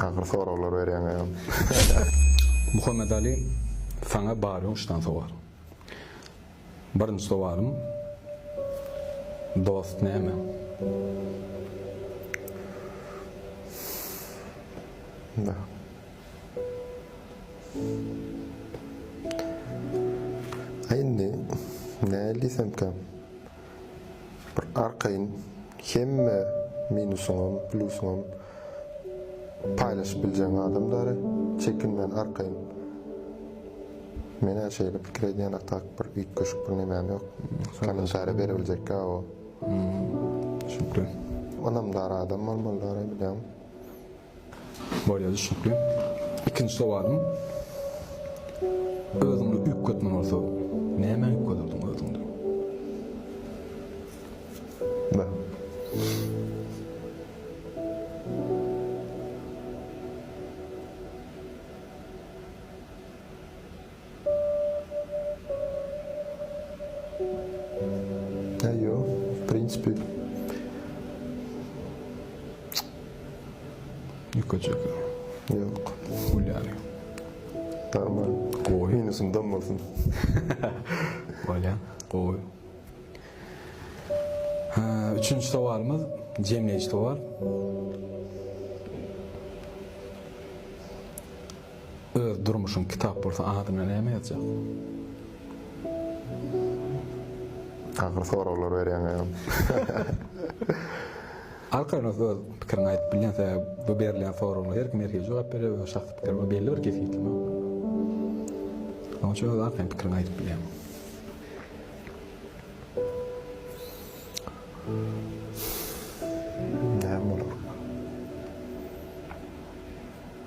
Ahyry soraglar berýäň agam. Muhammet Ali saňa bar ýoňuşdan sowal. Birinji sowalym dost näme? Indi nähili diýsemkä. Bir arkaýyn hemme minusyňam, plusyňam paýlaşyp biljegiň adam däli. Çekinmän arkaýyn. Men-ä şeýle pikir edýän atak bir üýtgeşik bir nemäm ýok. Kommentariýa berebiljekkä o. Şükür. Ynamdar adam bolmaly däli bilýäňmi? Bolýar düşnükli. Ikinji sowalym. Özüňde üýtgetme bolsa, nämä üýtgederdiň özüňde? He ýo, w prinsipi. Ýükejekmi? Ýok. Gülýämi? Aman. Gowy. Minusyn dam bolsun. Bolýa. Gowy. He, üçünji sowalymyz jemleýji sowal. Öz durmuşyň kitap bolsa adyna näme ýazjak? Agyr soraglar berýäň agam. Arkaýyn öz pikiriňi aýdyp bilýän sebäbi bu berilýän soraglara her kim her hili jogap berýär öz şahsy pikiri bar belli bir kesgitleme ýok. Onuň üçin öz arkaýyn pikiriňi aýdyp bilýäň. Näme bolar?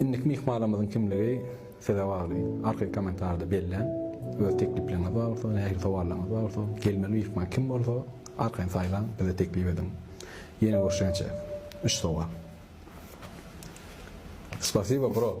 Indiki myhmanymyzyň kimligi size bagly. Arkaýyn kommentarda belläň. Öz tekliplerňiz bar bolsa, nähili sowallarňyz bar bolsa, gelmeli myhman kim bolsa, arkaýyn saýlaň, bize teklip ediň. Ýene görüşýänçä, üç sowal. Spasibo bro.